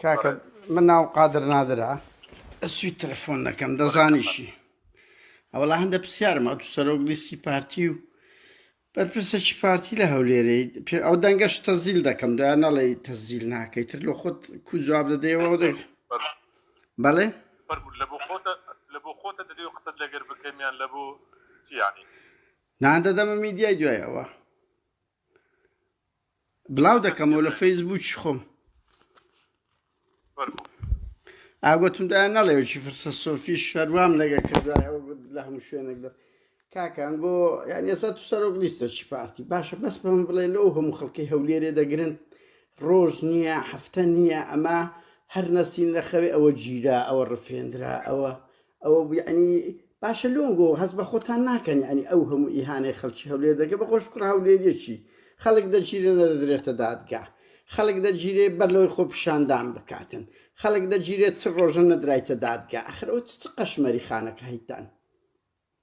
کاکە من ناوم قادر نادرە ئەسوی تەلەفۆن دەکەم دەزانیشی ئەوڵا هەندە پرسیارم ئەو سەرۆک لیستی پارتی و بەرپرسێکی پارتی لە هەولێرەی پێ ئەو دەنگەش تەزیل دەکەم دویان نەڵێ تەزیل ناکەی تر لە خۆت کو جواب دەدەیەوە ئەو دەنگ بەڵێ لە بۆ خۆتە لە بۆ خۆتە دەدەی و قسەت لەگەر بکەمیان لە بۆ چیانی نان دەدەمە میدیای دوایەوە بلاو دەکەمەوە لە فەیس بووکی خۆم ئاگوتمدا نەڵێکی فرسە سۆفی شەروام لەگە کردایەوە گوت لە هەموو شوێنێک دە کاکان بۆ یان ێستا تو سەرۆک لیستەکی پارتی باشە بەس بەم بڵێ لەو هەموو خەڵکی هەولێرێ دەگرن ڕۆژ نییە هەفتە نییە ئەمە هەر نەسین لە خەوێ ئەوە گیرا ئەوە ڕفێنرا ئەوە ئەوە بوو یەعنی باشە لۆنگۆ هەست بە خۆتان ناکەن یەعنی ئەو هەموو ئیهانەی خەڵکی هەولێر دەکەن بە خۆش کوڕە هەولێریەکی خەڵک دەگیرێ نەدەدرێتە دادگا خەڵک دەگیرێ بەر لەوەی خۆپیشاندان بکاتن خەڵک دەگیرێ چ ڕۆژە نەدرایتە دادگا ئەخر ئەو چ قەشمەری خانەکایتان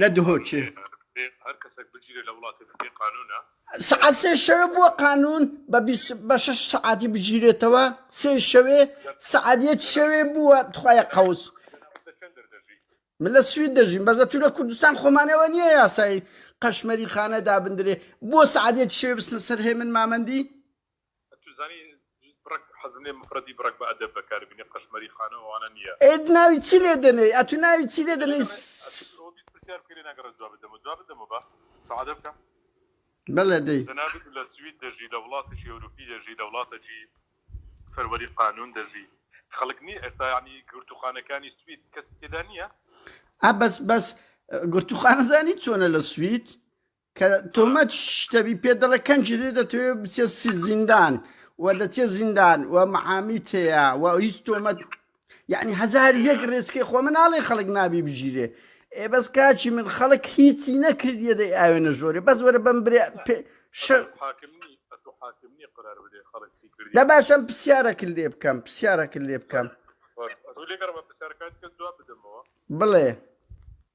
لە دهۆکێ. سەعات سێ شەوێ بووە قانون بە بیست بە شەش سەعاتی بگیرێتەوە سێ شەوێ سەعات یەک شەوێ بووە تخوایە قەوس من لە سوید دەژیم بەزە تو لە کوردستان خۆمانەوە نییە یاسایی قەشمەری خانە دابندرێ بۆ سەعات یەک شەوێ بستنە سەر هێمن مامەندی ئەی ناوی چی لێ دەنێی ئەتوو ناوی چی لێ دەنێی سعادە. بەڵێ دەی. ئا بەس بەس گرتووخانە زانی چۆنە لە سوید کە تۆمەت شتەبی پێ دەڵێ کەنجی لێ دەتەوێ بچێ سی- زیندان و دەچێ زیندان و محامی تەیە و هیچ تۆمەت یعنی هزار و یەک ڕێسکی خۆ من ناڵێ خەڵک نابی بگیرێ ئێ بەس کاچی من خەڵک هیچی نەکردیە دەی ئاوێ نەژۆرێ بەس وەرە بەم برێ پێ- شەر حاکمنی ئەتو حاکمنی قرار بدەی خەڵک چی کردی دە باشم پرسیارەکن لێ بکەم پرسیارەکن لێ بکەم ئەتو لێگەڕمە پرسیارەکانت کە جواب بدەمەوە بڵێ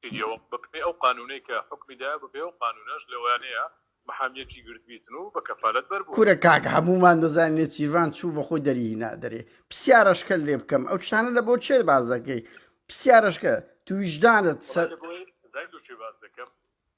کردیەوە بەپێی ئەو قانونەی کە حوکمی دایە بەپێی ئەو قانونەش لەوانەیە محامیەکی گرتبیتن و بە کەفالەت بەر بووە. کورە کاک هەموومان دەزانین نێچیرڤان چوو بەخۆی دەری هینا دەرێ پسیارەشکەت لێ بکەم ئەو شتانە لە بۆ چێ باس دەکەی پسیارەشکە تو ویژدانت سە. وەڵا لە بۆی زای دۆشێ باس دەکەم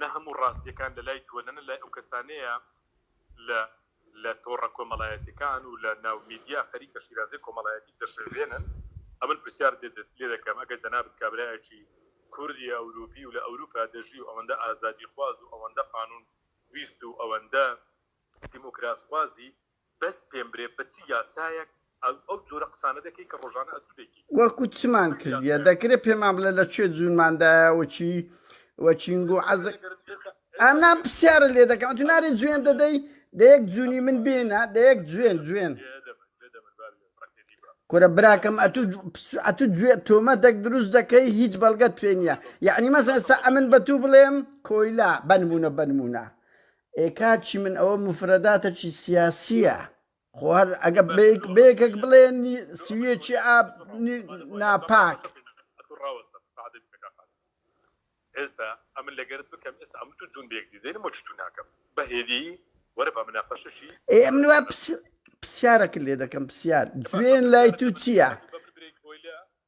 نە هەموو ڕاستیەکان لە لای تۆ نەنە لای ئەو کەسانەیە لە لە تۆڕە کۆمەڵایەتیەکان و لە ناو میدیا خەریکە شیرازەی کۆمەڵایەتیت دەشێوێنن ئەمن پرسیار لێ دەکەم ئەگەر جەنابت کابرایەکی کوردی ئەوروپی و لە ئەوروپا دەژی و ئەوەندە ئازادی خواز و ئەوەندە قانون ویست و ئەوەندە دیموکراس خوازی بەس پێم برێ بە چ یاسایەک ئەو جۆرە قسانە دەکەی کە ڕۆژانە ئەتوو دەیکەی. وەکو چمان کردیە دەکرێ پێمان بڵێ لە کوێ جوونمان دایە و چی و چین گوو عەز دەکەی ئەگەر ئێستا ئێستا ئەنا ئەگەر پسیارت لێ دەکەم ئەتوو نارێ جوێن دەدەی دە یەک جوونی من بێنە دە یەک جوێن جوێن دێ دە بەر دێ دە بەر با بێ بڕەکێ دی بڕە کورە براکەم ئەتوو پس ئەتوو جوێ تۆمەتەک دروست دەکەی هیچ بەڵگەت پێ نیە یەعنی مەسەن ئێستا ئەمن بە توو بڵێم کۆیلە بە نموونە بە نموونە ئێ کاک چیمن ئەوە موفرەداتەکی سیاسیە خۆ هەر ئەگە بەیەکەک بڵێ سویەکی ئاب ناپاک ئێستا ئەمن لەگەرت بکەم ئێستا ئەم تو جون بێک دیدەین مۆچ تو ناکەم بەهێدی وەرە بە مناقەشەشی ئێ ئەم نوە پرسیارەکە لێ دەکەم پرسیار جوێن لای تو چییە؟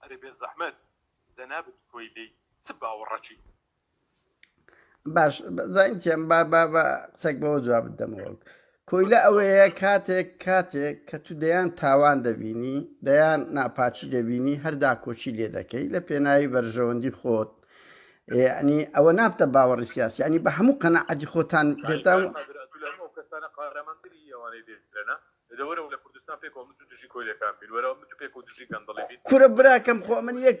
ئەرێ بێزەحمەت جەنابت کۆیلەی چ باوەڕەکی. باش زانین چیان با با با قسەک بەوە جوابت دەمەوە کۆیلە ئەوەیە کاتێک کاتێک کە تو دەیان تاوان دەبینی دەیان ناپاچی دەبینی هەردا کۆچی لێ دەکەی لە پێناوی بەرژەوەندی خۆت ینی ئەوە نابتە باوەڕی سیاسی ینی بە هەموو قەنەعەتی خۆتان پێتان کەسانە قارەمانتری ئەوانەی دێنە دەوەرەوە لە کوردستان پێکەوە متو دژی کۆیلەکان بین وەرەوە متو پێکەوە دژی گەندەڵی بین. کورە براکەم خۆ من یەک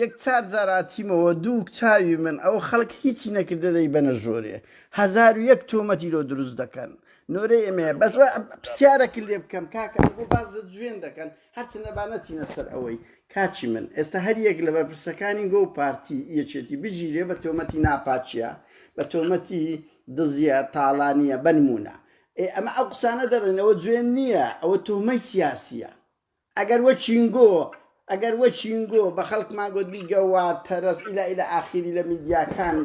یەک چار جار هاتیمەوە دووک چاوی من ئەوە خەڵک هیچی نەکردە دەیبەنە ژۆرێ هەزارو یەک تۆمەتی لۆ دروست دەکەن نۆرەی ئێمەیە بەس وا پرسیارەکت لێ بکەم کاکە ئەوە بۆ باس لە جوێن دەکەن هەرچەندە با نەچینە سەر ئەوەی کاکی من ئێستا هەر یەک لە بەرپرسەکانی گۆو پارتی یەکێتی بگیرێ بە تۆمەتی ناپاکیە بە تۆمەتی دزیە تاڵانیە بەنمونە ئێ ئەمە ئەو قسانە دەڕێن ئەوە جوێن نیە ئەوە توهمەی سیاسیە ئەگەر وە چینگۆ ئەگەر وە چینگۆ بە خەڵکمان گۆت بیگە وە تەرەز ئیلە ئیلە ئاخیری لە میدیاکان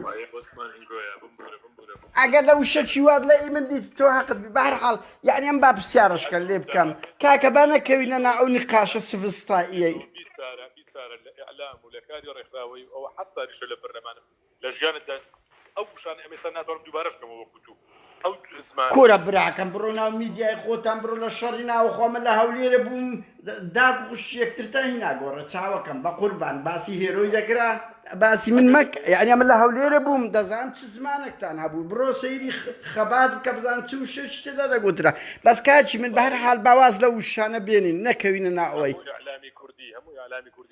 ئەگەر لە وشە چی وات لە ئی من دیت تۆ هەقت بی بە هەر حاڵ یانی ئەم با پرسیارەشکە لێ بکەم کاکە با نەکەوینە نا ئەو نیقاشە سڤستاییەی. بیسارە بیسارە لە ئیعلام و لە کاری ڕێکخراوەی و ئەوە حەفت سالیشە لە پەرلەمانم لە ژیانتدا ئەو وشانە ئەم ئێستا ناتوانم دووبارەش کەمەوە وەکو تو ئەو زمان کورە براکەم بڕۆ ناو میدیای خۆتان بڕۆ لە شەڕی ناوەخۆ من لە هەولێرە بووم داک و خوشکی یەکترتان هینا گۆڕێ چاوەکەم بە قوربان باسی هێرۆی دەکرا باسی من مەک یعنی من لە هەولێرە بووم دەزان چ زمانێکتان هەبوو بڕۆ سەیری خەبات بکە بزان چ و شێش تێدا دەگوترا بەس کاچی من بە هەر حال باواز لە وشانە بێنین نەکەوینە ناوەی. هەموو ئیعلامی کوردی هەموو ئیعلامی کوردی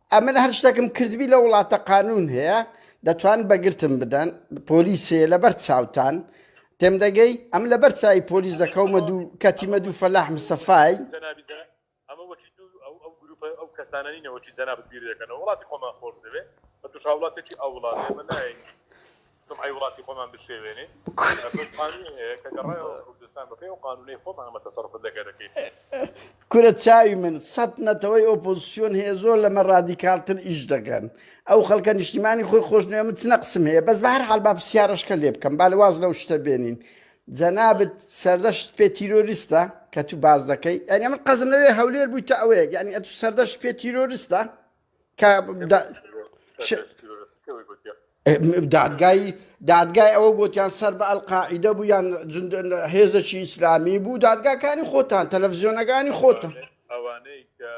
ئەمن هەر شتەکم کردبی لە وڵاتە قانون هەیە دەتوان بەگرتم بدەن پۆلیسێ لەبەر چاوتان تێم دەگەی ئەم لەبەر چای پۆلیس دەکەومە دوو کەتیمە دوو فەلاح مسەفای ئەو کەسانانی نەوەی جەنابەت بیر دەکەنەوە وڵاتی خۆمان خۆش دەوێت بە توش هاوڵاتێکی ئەو وڵاتێمە نایە سومعەی وڵاتی خۆمان بشێوێنین ئەمەش قانونی هەیە کە گەڕایەوە کوردستان بەپێی ئەو قانونەی خۆمان ئەمە تەسەروفت لە گەلەکەی کورە چاوی من سەت نەتەوەی ئۆپۆزسیۆن هەیە زۆر لەمە ڕادیکالتر ئیش دەکەن ئەو خەڵکە نیشتیمانی خۆی خۆش نوێ من چ نەقسم هەیە بەس بە هەر حال با پرسیارەشکە لێ بکەم با لە واز لەو شتە بێنین جەنابت سەردەشت پێ تیرۆریستە کە تو باز دەکەی یعنی من قەزم لەوێ هەولێر بوویتە ئەوەیەک یعنی ئەتو سەردەشت پێ تیرۆریستە کە دادگای دادگای ئەوە گوتیان سەر بە ئەلقاعیدە بوو یان هێزەکی ئیسلامی بوو دادگاکانی خۆتان تەلەڤزیۆنەکانی خۆتان ئەوانەی کە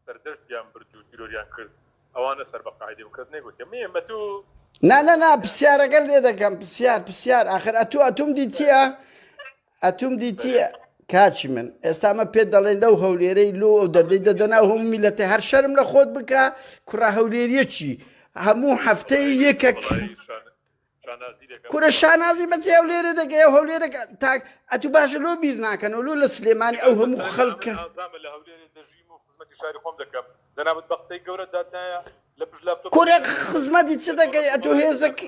سەردەستیان برد و تیرۆریان کرد ئەوانە سەر بە قاعدی و کەس نێگوتێ مێمە تو نانەنا پرسیارەکە لێ دەکەم پرسیار پرسیار آخر ئەتو ئەتوم دیتیە ئەتوم دیتی کاچی من ئێستا مە پێت دەڵێن لەو هەولێرەی لۆ ئەو دەردەی دەدەنا هەم میلەتی هەر شەرم لە خۆت بکە کوڕە هەولێریەکی هەموو هەفتەی یەکەک کورە شانازی بەچی ئەو لێرە دەگەی ئەو هەولێرە تاک ئەتو باشە لۆ بیر ناکەن و لۆ لە سلێمانی ئەو هەموو خەڵکە دەنابەت بە قسەی گەورە دادایە لە پشت لە کورە خزمەتی چ دەگەی ئەتو هێزەکە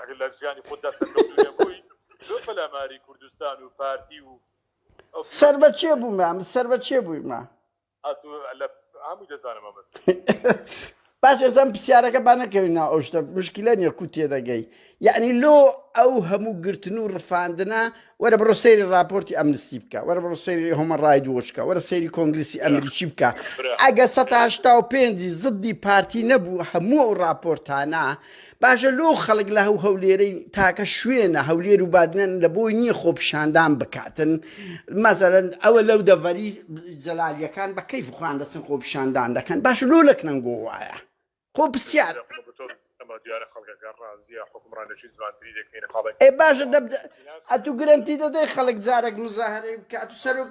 ئەگەر لە ژیانی خۆتدا سەرکەوتوو نەبووی لۆ پەلاماری کوردستان و پارتی و ئەو پیاوی سەر بە کێ بوومە من سەر بە کێ بوویمە ئەتو لە هەمووی دەزانم ئەمەت باش ئێزەم پرسیارەکە با نەکەوین ناو ئەو شتە مشکلە نییە کو تێدەگەی یعنی لۆ ئەو هەموو گرتن و ڕفاندنە وەرە بڕۆ سەیری راپۆرتی ئەمنستی بکە وەرە بڕۆ سەیری هۆمە ڕای دووەچکە وەرە سەیری کۆنگلیسی ئەمریکی بکە ئەگە 1970 پێنجی زدی پارتی نەبوو هەموو ئەو راپۆرتانە باشە لۆ خەڵک لە هەو هەولێرەی تاکە شوێنە هەولێر و بادنەن لە بۆی نییە خۆپیشاندان بکاتن مەزەرن ئەوە لەو دەڤەری جەلالیەکان بە کەیف خوان دەچن خۆپیشاندان دەکەن باش لۆ لەک نەنگۆ وایە خۆ پرسیار ئێ باشە ئەتو گرنتی دەدەی خەڵک جارێک مزاهرەی بکات و سەرک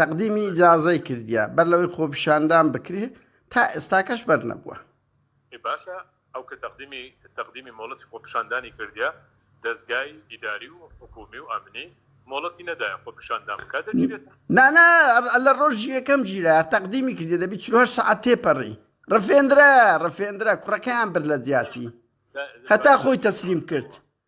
تەقدیمی ئیجازەی کردیە بەر لەوەی خۆپیشاندان بکرێ تا ئێستاکەش بەرنەبووە. ئێ باشە ئەو کە تەقدیمی تەقدیمی مۆڵەتی خۆپیشاندانی کردیە دەزگای ئیداری و حکوومی و ئەمنی مۆڵەتی نەدایە خۆپیشاندان بکا دەگیرێت؟ نا نا لە ڕۆژی یەکەم گیرا تەقدیمی کردیە دەبی چل و هەشت سەعات تێپەڕی ڕفێندرا ڕفێندرا کوڕەکەیان برد لە جیاتی هەتا خۆی تەسلیم کرد.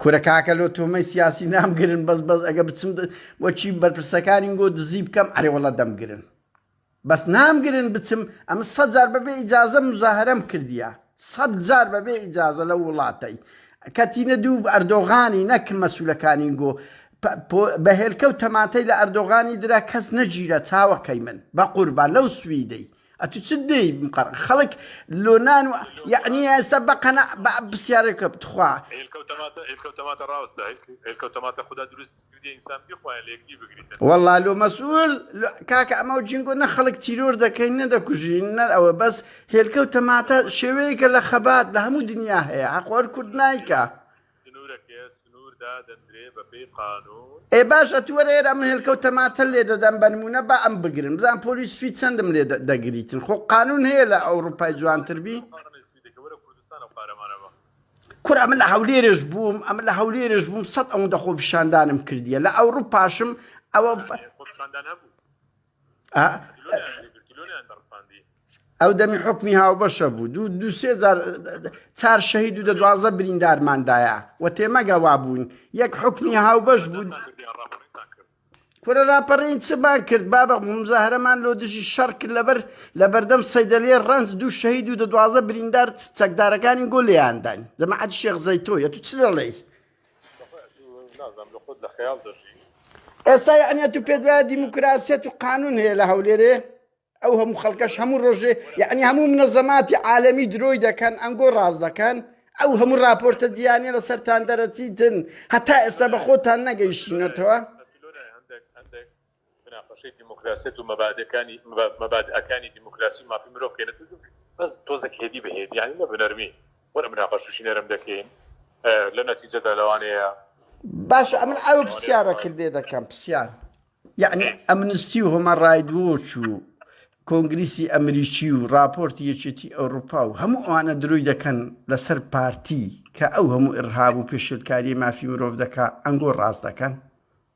کورە کاکە لۆ تۆمەی سیاسی نامگرن بەس بەس ئەگە بچم وەکی بەرپرسەکانی گۆ دزی بکەم ئەرێ وەڵا دەمگرن بەس نامگرن بچم ئەمە سەد جار بەبێ ئیجازە مزاهرەم کردیە سەد جار بەبێ ئیجازە لەو وڵاتەی کەتینە دوو ئەردۆغانی نەک مەسولەکانی گۆ بە هێلکە و تەماتەی لە ئەردۆغانی درا کەس نەگیرا چاوەکەی من بە قوربان لەو سویدەی ئەتو چ دەی مقڕ خەڵک لۆنان و یعنی ئێستا بەقەنا بە پرسیارێکە بتخوا والله لۆ مەسول کاکە ئەمە جینگۆ نە خەڵک تیرۆر دەکەین نەدەکوژین نەر ئەوە بەس هێلکە و تەماتە شێوەیەکە لە خەبات لە هەموو دنیا هەیە حەقۆر کورد نایکە. ئێ باش ئەتو وەرە ئێرە ئەم هێلکەو تەماتە لێ دەدەم بە نمونە با ئەم بگرن بزان پۆلی سوید چەندم لێ دەگریتن خۆ قانون هەیە لە ئەوروپای جوانتر بی کورە ئەمە لە هەولێرش بووم ئەمە لە هەولێرش بووم سەد ئەوەندە خۆپیشاندانم کردیە لە ئەوروپاشم ئەوە ئەو دەمی حکمی هاوبەشە بوو دوو دوسێ چار شەهید و دە دوازە بریندارماندایە و تێمەگەوا بوون یەک حکمی هاوبەش بوون کورە راپەڕین چمان کرد بابە مزاهرەمان لۆ دژی شەڕ کرد لەبەر لە بەردەم سەیدەلێ ڕنج دوو شەهید و دە دوازە بریندار چەکدارەکانی گۆ لێیانداین جەماعەت شێخ زەیتۆیە تو چ دەڵێی ئێستا یەعنی ئەتوو پێت وایە دیموکراسیەت و قانون هەیە لە هەولێرێ ئەو هەموو خەڵکەش هەموو ڕۆژێ یەعنی هەموو منەزەماتی عالەمی درۆی دەکەن ئەنگۆ ڕاست دەکەن ئەو هەموو راپۆرتە دییانە لە سەران دەرەچیتن هەتا ئێستا بە خۆتان نەگەیشتونەتەوە مناقەشەی دیموکراسیەت و مەبادئەکانی مەبادئەکانی دیموکراسی و مافی مرۆڤ کەینە تۆزێک بەس تۆزێک هێدی بە هێدی یانی نە بە نەرمی وەرە مناقەشەشی نەرم دەکەین لە نەتیجەدا لەوانەیە باشە ئەمن ئەو پرسیارەکرد لێ دەکەم پرسیار یعنی ئەمنستی و هۆمە ڕایدوۆچ و کۆنگریسی ئەمریکی و راپۆرتی یەکێتی ئەوروپا و هەموو ئەوانە درۆی دەکەن لەسەر پارتی کە ئەو هەموو ئڕهاب و پێشلکاری مافی مرۆڤ دەکا ئەنگۆ ڕاست دەکەن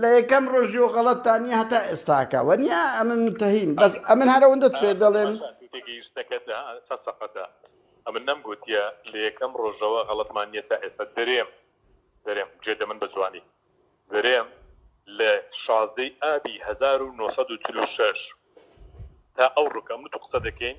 لە یەکەم ڕۆژی و غەڵەت تا نیە هەتا ئێستاکە وە نیە ئەمن منتەهیم بەس ئەمن هەرە وندت پێ دەڵێم تێگەیشتەکەت چە سەقەتە ئەمن نەم گوتیە لە یەکەم ڕۆژەوە غەڵەتمان نیە تا ئێستا درێم درێم جێ دەمن بە جوانی درێم لە شازدەی ئابی 1940 تا ئەو ڕکەم تو قسە دەکەین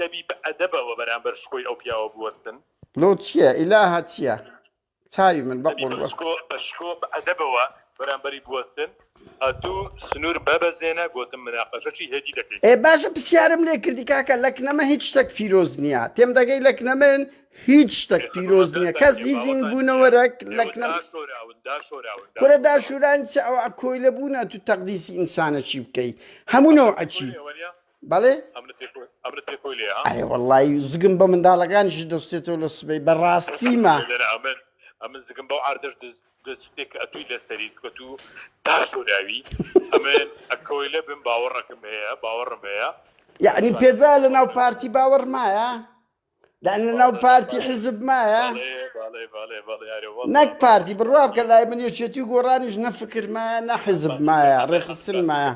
دەبی بە ئەدەبەوە بەرامبەر شکۆی ئەو پیاوە بوەستن. لۆ چیە ئیلاهە چیە چاوی من بە قوربان. دەبی بە شکۆ بە شکۆ بە ئەدەبەوە بەرامبەری بوەستن ئەتوو سنور بە بەزێنە گۆتم مناقەشە چی هێدی دەکەی. ئێ باشە پسیارم لێ کردی کاکە لەکنەمە هیچ شتەک پیرۆز نیە تێم دەگەی لەکنەمن هیچ شتەک پیرۆز نیە کەس هیچ زین بونەوەرەک لەکنەم کورە داشوران چ ئەوە کۆیلە بوونە تو تەقدیسی ئینسانەکی بکەی هەموو نەوعەکی. بەڵێ ئەرێ وەڵی زگم بە منداڵەکانیش دەستێتەوە لە سبەی بەڕاستیمە ئەمن زگم بەو ئاردەش دەستێک ئەتووی لەسەری کەت و تا شوراوی ئەمن ئەکەوەی لە بم باوەڕەکەم هەیە باوەڕم هەیە یعنی پێدا لە ناو پارتی باوەڕمایە دان لەناو پارتی حزب مایە نەک پارتی بڕوا بکە لای من یەکێتی و گۆڕانیش نەفکر مایە نە حزب مایە ڕێخستن مایە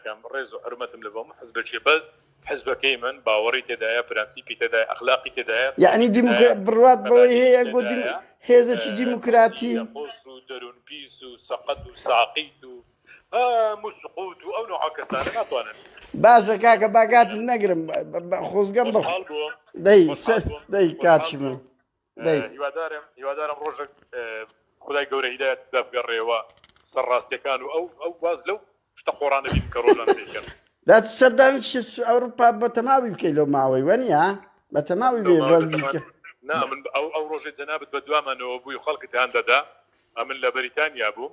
کەم ڕێز و حرمەتم لە بۆم حزبەکێ بەس حزبەکەی من باوەڕی تێدایە پرەنسیپی تێدای ئەخلاقی تێدایە یعنی بڕات بەوەی هەیە گۆ هێزەکی دیموکراتی خۆش و دەروون پیس و سەقەت و ساقیت و باشە کاکە با کاتت نەگرم خۆزگەم بە دەی دەی کاتشم هیوادارم هیوادارم ڕۆژێک خدای گەورە هیدایەت دەبگەڕێەوە سەر ڕاستیەکان و ئەو ئەو باز لەو شتە خۆڕانە بین کە ڕۆژان دەیکەن دات سەردانش ئەوروپا بە تەماوی بکەیت لەو ماوەی وەنیە بە تەماوی بێ بەزیکە نا من ئەو ئەو ڕۆژێ جەنابەت بە دوامانەوە بووی خەڵکت هەندەدا ئەمن لە بەریتانیا بووم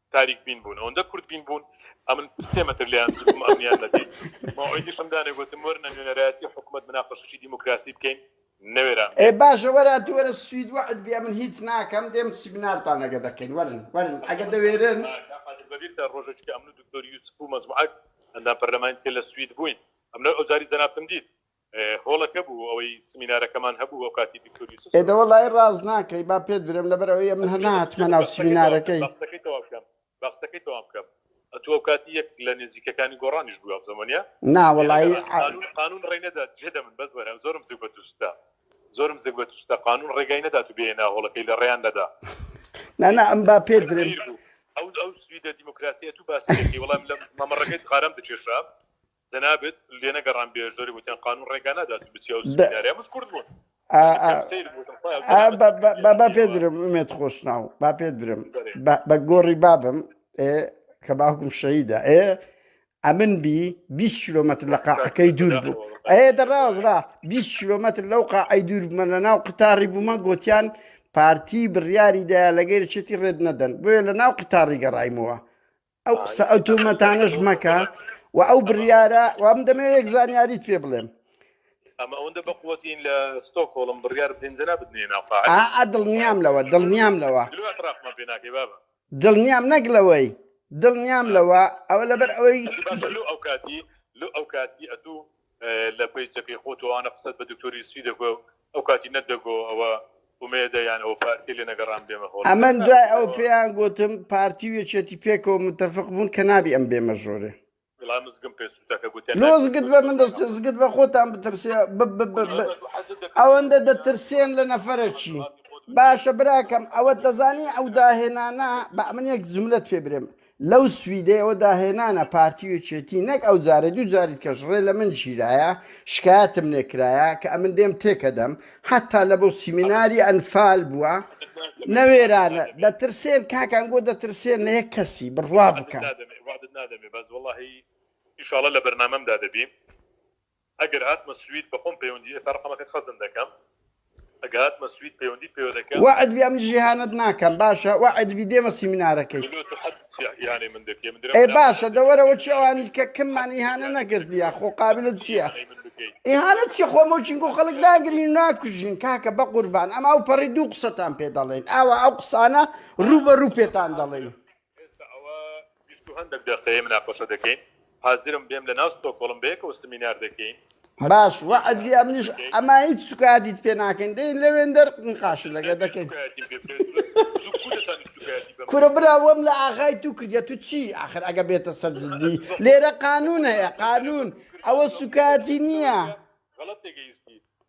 تاریک بین بوون ئەوەندە کورد بین بوون ئەمن سێ مەتر لێیان دروم ئەمنیان نەدیت مەوعیدیشم دانێ گوتم وەرنە نوێنەرایەتی حکومەت مناقەشەی دیموکراسی بکەین نەوێران ئێ بێن. باشە وەرە تو وەرە سوید وەعد بی ئەمن هیچ ناکەم دێم سیمینارتان ئەگە دەکەین وەرن وەرن ئەگە دەوێرن. کاک قادر بەبیرتە ڕۆژەکی کە ئەمن و دکتۆر یوسف و مەجموعەک ئەندام پەرلەمانی دیکە لە سوید بووین ئەمنە ئەوجاری جەنابتم دیت. هۆڵەکە بوو ئەوەی سمینارەکەمان هەبوو ئەو کاتی دکتۆر یوسف ئێدە وەڵای ڕاست ناکەی با پێت برێم لەبەر ئەوەیە من هەر نهاتمە ناو سمینارەکەی بەقسەکەی تەواو بکەم بەقسەکەی تەواو بکەم ئەتوو ئەو کاتی یەک لە نێزیکەکانی گۆڕانیش بوو ئەم زەمەنە نا وەڵایی قانون قانون ڕێی نەدات جێدە من بەس وەرە زۆرم زوو بە دووستا زۆرم زگ بە دووستا قانون ڕێگای نەدات و بێنە هۆڵەکەی لە ڕێیان نەدا نا نا ئەم با پێت برێم زیر بوو ئەو ئەو سویدە دیموکراسیەت و باسەکەی وەڵام لە مەمەڕەکەی جغارەم دکێشا جەنابت لێنەگەڕام بێ زۆری وتیان قانون ڕێگا نادات و بچی ئەو سمینارە مش کورد بوون با پێ درم ئومێت خۆشناو با پێ درم بە گۆڕی بابم کە باوکم شەیدا ئێ ئەمن بی 20 کیلومتر لە قاعەکەی دوور بوو ئەێ دەڕازرا 20 کیلومتر لەو قاعی دوور بمە لە ناو قتاری بوومە گوتیان پارتی بڕیاری دایا لەگەر چێتی ڕێت نەدەن بۆیە لە ناو قتاری گەڕایمەوە ئەو قسە ئەو تۆمەتانەش مەکە و ئەو بڕیارە وام دەمێ یەک زانیاریت پێ بڵێم ئەمە ئەوەندە بەقوەتین لە ستۆکۆڵم بڕیار بدەین جە نابدنێ ناوقاع ئا دڵنیام لەوە دڵنیام لەوە دراخمان پێ ناکەی بابە دڵنیام نەک لەوەی دڵنیام لەوە ئەوە لەبەر ئەوەی باشە لۆ ئەو کاتی لۆ ئەو کاتی ئەتوو لە پەیجەکەی خۆ تۆ ئانە قسەت بە دکتۆر یوسفی دەگۆ ئەو کاتی نەت دەگۆ ئەوە ئومێدە یان ئەوە پارتی لێ نەگەڕام بێمە هۆڵ ئەمن دوای ئەو پێیان گۆتم پارتی و یەکێتی پێکەوە متەفق بوون کە نابی ئەم بێمە ژۆرێ وڵا مزگم پێ سووتە کە گوتیان لۆ ناکرێت زگت بە من دەست بۆ زگت بە خۆتان بترسێ ب- ب- ب- ب- ئەمە دوو حەزت دەکرد ئەوەندە بۆ دەترسێن لە نەفەرەکی باشە براکەم ئەوە دەزانی ئەو داهێنانە بە من یەک جملەت پێ برێم لەو سویدەیەوە داهێنانە پارتی و یەکێتی نەک ئەو جارەی دوو جاری دیکەش ڕێ لە من گیرایە شکایەتم لێ کرایە کە ئەمن دێم تێکەدەم حەتا لە بۆ سیمیناری ئەنفال بووە نەوێرانە دەترسێن کاکان گۆ دەترسێن لە یەک کەسی بڕوا بکەن وعدت نادەمێ بەس وەڵاهی ئیشاڵە لە بەرنامەمدا دەبی. ئەگەر هاتمە سوید بەخۆم پەیوەندی ئێستا ڕەقەمەکەت خەزن دەکەم ئەگە هاتمە سوید پەیوەندیت پێوە دەکەم. وەعد بی ئەمن جیهانت ناکەم باشە وەعد بی دێمە سیمینارەکەی. ملۆ تو حد یانەی من دەکەی من درم ئێ باشە دە وەرە وەچی ئەوانی کە کم من ئیهانە نەکردیە خۆ قابلت چیە ئیهانە چی خۆ مەوچین گۆ خەڵک ناگرین ناکوژین کاکە بە قوربان ئەم ئەو پەڕی دوو قسەتان پێ دەڵێن ئاوا ئەو قسانە ڕوو بە ڕوو پێتان دەڵێن. ئێستا ئەوە بیست و هەندەک دەقەیە مناقەشە دەکەین حازرم بێم لەناو ستۆکۆڵم بەیەکەوە سمینار دەکەین. باش وەعد بی ئەمنیش ئەما هیچ سوکایەتیت پێ ناکەین دێین لەوێن دەر نقاش لەگە دەکەین سوکایەتیم پێ بکەیت زۆر زوو کوو دەتانی سوکایەتی بەم کورە برا وەم لە ئاغای تو کردیە تو چی ئاخر ئەگە بێتە سەر جدی لێرە قانون هەیە قانون ئەوە سوکایەتی نیە. غەڵەت تێگەیشتی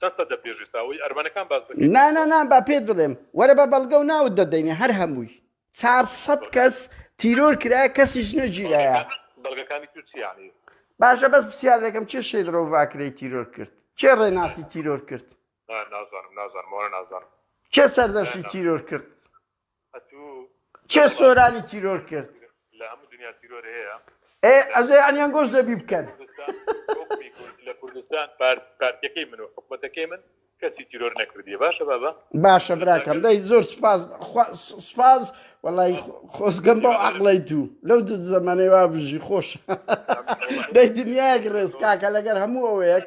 چەند سەد دەپێژێ ساوەی ئەرمەنەکان باس دەکەی نا نا نا با پێت بڵێم وەرە بە بەڵگەو ناوت دەدەینێ هەر هەمووی چار سەد کەس تیرۆر کرایە کەسیش نەگیرایە بەڵگەکانی تو چی یانی. باشە بەس پسیار دەکەم کێ شێت ڕۆڤاکرەی تیرۆر کرد کێ ڕێناسی تیرۆر کرد. نا نازانم نازانم ئەوانە نازانم. کێ سەردەشتی تیرۆر کرد. کێ سۆرانی تیرۆر کرد؟ ئێ ئەزێ یانی ئەنگۆش دەبی بکەن. باشە براکەم دەی زۆر سوپاس خوا سوپاس وەڵای خۆزگەم بەو عەقڵەی دوو لەو دوو زەمەنەی وا بژی خۆش دەی دنیایەک ڕێز کاکە لەگەر هەموو ئەوەیەک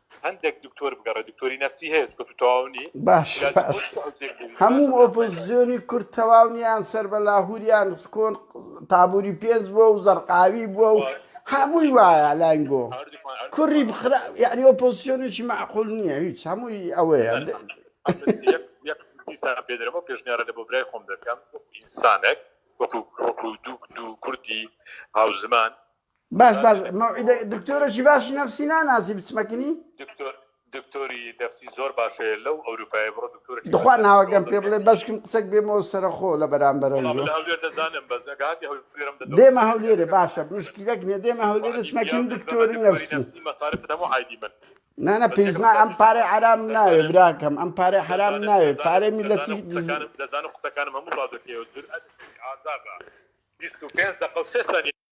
هەندێک دکتۆر بگەڕێ دکتۆری نفسی هەیە چکە تو تەواو نی باش هەموو ئۆپۆزیۆنی کورد تەواو نیان سەر بە لاهوریان کۆن تابووری پێنج بووە و زەرقاوی بووە و هەمووی وایە لانگۆ کوڕی بخرا یعنی ئۆپۆزیۆنێکی معقول نییە هیچ هەمووی ئەوەیە پێدرەوە پێشنیارە لە بۆ برای خۆم دەکەم ئینسانێک وەکو وەکو دوو دوو کوردی هاوزمان باش باش مەوعیدە دکتۆرەی باشی نفسی ناناسی بچمەکنی دکتۆر دکتۆری دەفسی زۆر باشەیە لەو ئەوروپای بڕۆ دکتۆر دخوا ناوەگەم پێ بڵێ بەشکم قسەک بێمەوە سەرخۆ لە بەرامبەرە دەزانم بەس دێمە هەولێرە باشە مشکیلەک نێ دێمە هەولێرە چمەکین دکتۆری نفسی نانە پێزنا ئەم پارێ عرام ناوێ براکەم ئەم پارێ حرام ناوێ پارێ میلەتی دەزانم قسەکانم هەموو ڕادەکەی و جور ئەزابە 25 دقە و سێ سانی